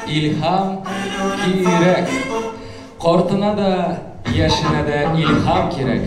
Илһам кирәк. Картына да, яшенә дә илһам кирәк.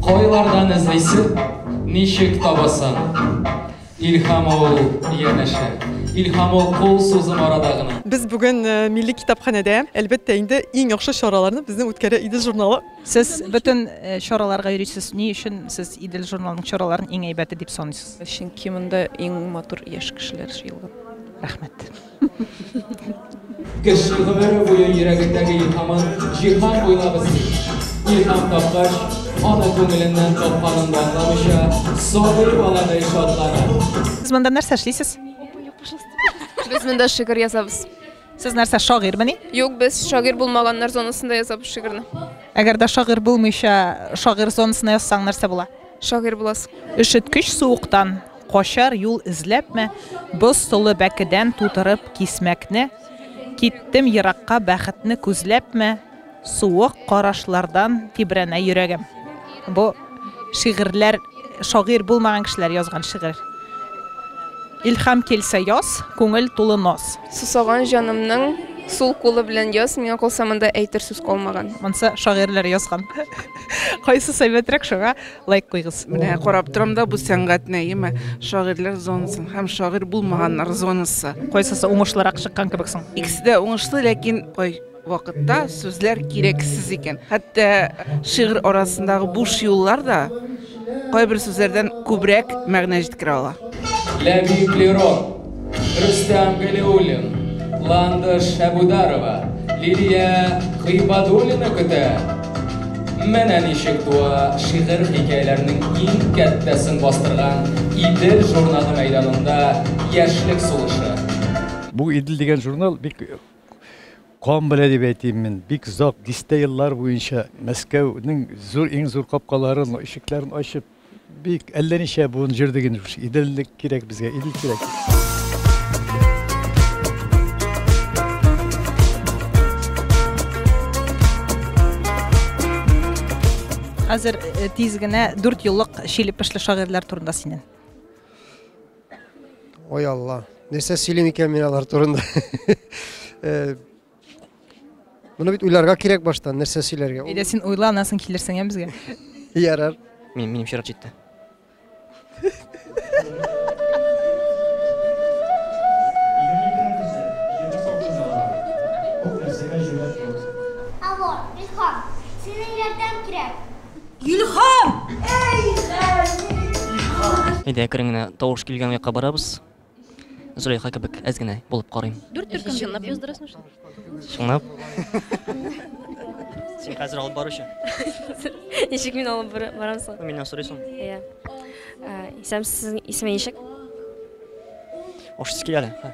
Кайлардан эзлисең, ничек табасың? Илһам ул, янәшә. Илһам ул кул сузым арада гына. Без бүген Милли китапханәдә, әлбәттә инде, иң яхшы чараларны безнең үткәрә иде журналы. Сез бөтен э, чараларга йөрисез. Ни өчен сез Идел журналының чараларын иң әйбәте дип саныйсыз? Чөнки монда иң матур яшь кешеләр җыелган. Рәхмәт. Кеше гомере буе йөрәгендәге илһамын җиһан буйлап эзли. Илһам тапкач, аны күңеленнән тапканын да аңламыйча, сабый баладай шатлана. Сез монда нәрсә эшлисез? Без монда шигырь язабыз. Сез нәрсә, шагыйрьмени? Юк, без шагыйрь булмаганнар зонасында яза бу шигырьне. Әгәр дә шагыйрь булмыйча, шагыйрь зонасына язсаң, нәрсә була? Шагыйрь буласың. Өшеткеч суыктан качар юл эзләпме, боз толы бәкедән тутырып кисмәкне, киттем еракка бәхетне күзләпме, Суык карашлардан тибрәнә йөрәгем. Бу шигырьләр шагыйрь булмаган кешеләр язган шигырь. Илһам килсә яз, күңел тулы наз. Сусаган җанымның сул кулы белән яз, миңа калса монда әйтер сүз калмаган. Монсы шагыйрьләр язган. Кайсысы әйбәтрәк шуңа лайк куйгыз. Менә карап торам да бу сәнгать нәеме, шагыйрьләр зонасын һәм шагыйрь булмаганнар зонасы. Кайсысы уңышлырак чыккан кебек соң? Икесе дә уңышлы, ләкин кай. вакытта сүзләр кирәксез икән. Хәтта шигырь арасындагы буш юллар да кайбер сүзләрдән күбрәк мәгънә җиткерә ала. Ләбиб Лерон, Рөстәм Галиуллин, Ландыш Әбүдарова, Лилия Гыйбадуллина көтә. Менә ничек туа шигырь-хикәяләрнең иң кәттәсен бастырган Идел журналы мәйданында яшьлек сулышы. Бу Идел дигән журнал бик Кан белә дип әйтим мин, бик озак, дистә еллар буенча Мәскәүнең зур, иң зур капкаларын, ишекләрен ачып, бик әллә ничә буын җөрдек инде шушы. Иделлек кирәк безгә, Идел кирәк. Хәзер э, тиз генә дүрт юллык чилепешле шагыйрьләр турында синен. Ой алла, нәрсә сөйлим икән мин алар турында? Э, Моны бит уйларга кирәк баштан, нәрсә сөйләргә. Әйдә син уйла, аннан соң килерсең ә безгә. Ярар. Мин минем чират җитте. Илхам! Әйдә, әкрен генә тавыш килгән якка барабыз. Зөләйха кебек әз генә булып карыйм. Дүрт төркем чынлап яздырасың шул. Чынлап. Син хәзер алып баручы. Ничек мин алып барам соң? Миннән сорыйсың. Иә. Исәм сезнең исеме ничек? Ошсыз килә әле.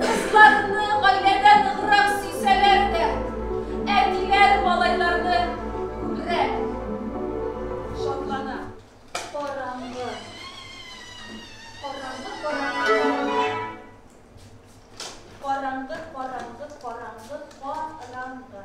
Кызларны гаиләдә ныграк сөйсәләр дә, әтиләр малайларны күбрәк шатлана. Караңгы. Караңгы, караңгы, караңгы. Караңгы, караңгы, караңгы, караңгы.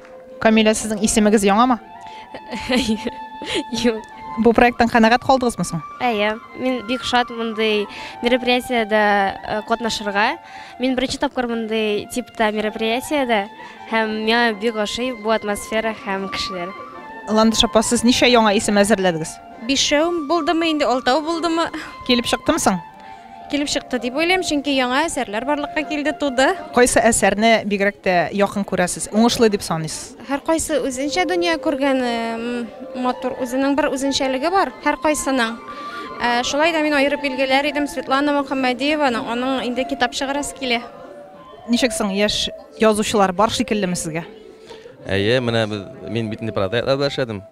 Камилә, сезнең исемегез яңамы? Юк. Бу проекттан канәгать калдыгызмы соң? Әйе, мин бик шат мондый мероприятиедә э, катнашырга. Мин беренче тапкыр мондый типта мероприятиедә һәм миңа бик ошый бу атмосфера һәм кешеләр. Ландыш апа, сез ничә яңа исем әзерләдегез? Бишәү булдымы инде, алтау булдымы? Килеп чыктымы соң? Килеп чыкты дип уйлыйм, чөнки яңа әсәрләр барлыкка килде, туды. Кайсы әсәрне бигрәк тә якын күрәсез, уңышлы дип саныйсыз? Һәркайсы үзенчә дөнья күргән, матур, үзенең бер үзенчәлеге бар һәркайсының. Шулай да мин аерып билгеләр идем Светлана Мөхәммәдиеваны, аның инде китап чыгарасы килә. Ничек соң, яшь язучылар бар шикеллеме сезгә? Әйе, менә без, мин бит инде проектларда эшләдем,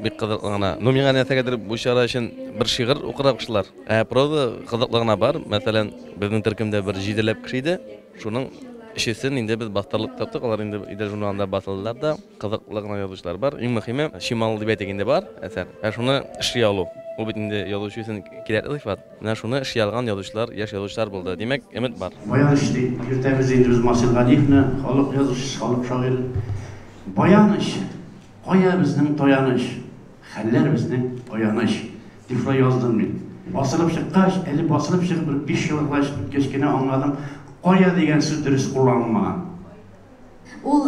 бик кызыклы гына. Ну, миңа нәрсәгәдер бу чара өчен бер шигырь укырга куштылар. Ә проза кызыклы гына бар. Мәсәлән, безнең төркемдә бер җиделәп кеше иде. Шуның өчесен инде без бастырлык таптык. Алар инде Идел журналында басылдылар да. Кызыклы гына язучылар бар. Иң мөһиме, Чимал дип әйтик инде бар әсәр. Ә шуны эшли алу. Ул бит инде язучы өчен кирәкле сыйфат. Менә шуны эшли алган язучылар, яшь язучылар булды. Димәк, өмет бар. Баяныч ди. Йөртәбез инде без Марсель Галиевны, халык язучысы, халык шагыйре. Баяныч! Кая безнең таяныч? Хәлләр безнең аяныч, дип шулай яздым мин. Басылып чыккач, әле басылып чыгып бер биш ел гына үткәч кенә аңладым, кая дигән сүз дөрес кулланылмаган. Ул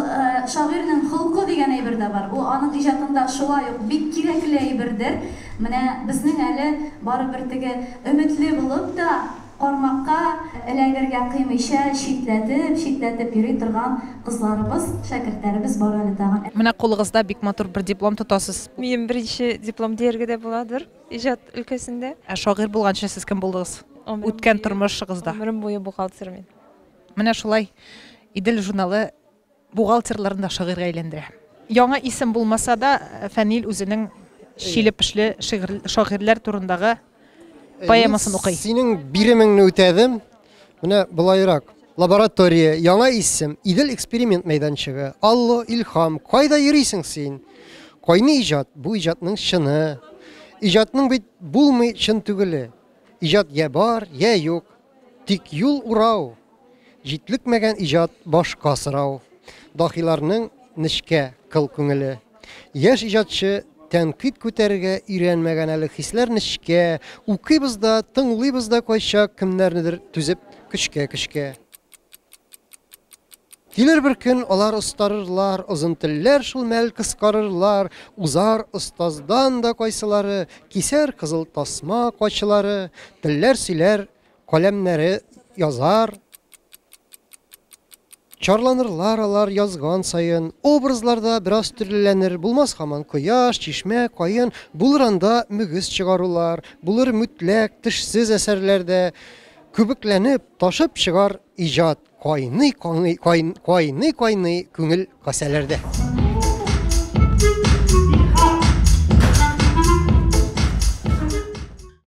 шагыйрьнең холкы дигән әйбер дә бар. Ул аның иҗатында шулай ук бик кирәкле әйбердер. Менә безнең әле барыбер теге өметле булып та, Кармакка эләгергә кыймыйча читләтеп, читләтеп йөри торган кызларыбыз, шәкертләребез бар әле тагын. Менә кулыгызда бик матур бер диплом тотасыз. Минем беренче диплом дияргә дә буладыр, иҗат өлкәсендә. Ә шагыйрь булганчы сез кем булдыгыз? Үткән тормышыгызда. Гомерем буе бухгалтер мин. Менә шулай Идел журналы. Бухгалтерларны да шагыйрьгә әйләндерә. Яңа исем булмаса да, Фәнил үзенең Чиле пешле шигырь шагыйрьләр турындагы поэмасын укый. Мин синең биремеңне үтәдем. Менә болайрак. Лаборатория, яңа исем, Идел эксперимент мәйданчыгы. Алло, Илһам, кайда йөрисең син? Кайный иҗат, бу иҗатның чыны. Иҗатның бит булмый чын түгеле. Иҗат йә бар, йә юк. Тик юл урау, Җитлекмәгән иҗат башка сорау. Дахиларның нечкә, кыл күңеле. Яшь иҗатчы тәнкыйть күтәрергә өйрәнмәгән әле Хисләр нечкә, Укыйбыз да, тыңлыйбыз да кайчак Кемнәрнедер түзеп көчкә-көчкә. Килер бер көн алар остарырлар, озын телләр шул мәл кыскарырлар, узар остаздан да кайсылары, кисәр кызыл тасма качылары, телләр сөйләр, каләмнәре язар. Чарланырлар алар язган саен, образларда бераз төрлеләнер, булмас хаман кояш, чишмә, каен, булыр анда мөгез чыгарулар, булыр мүтләк, тешсез әсәрләрдә, күбекләнеп, ташып чыгар Иҗат кайный кайный кайный кайный күңел касәләрдә.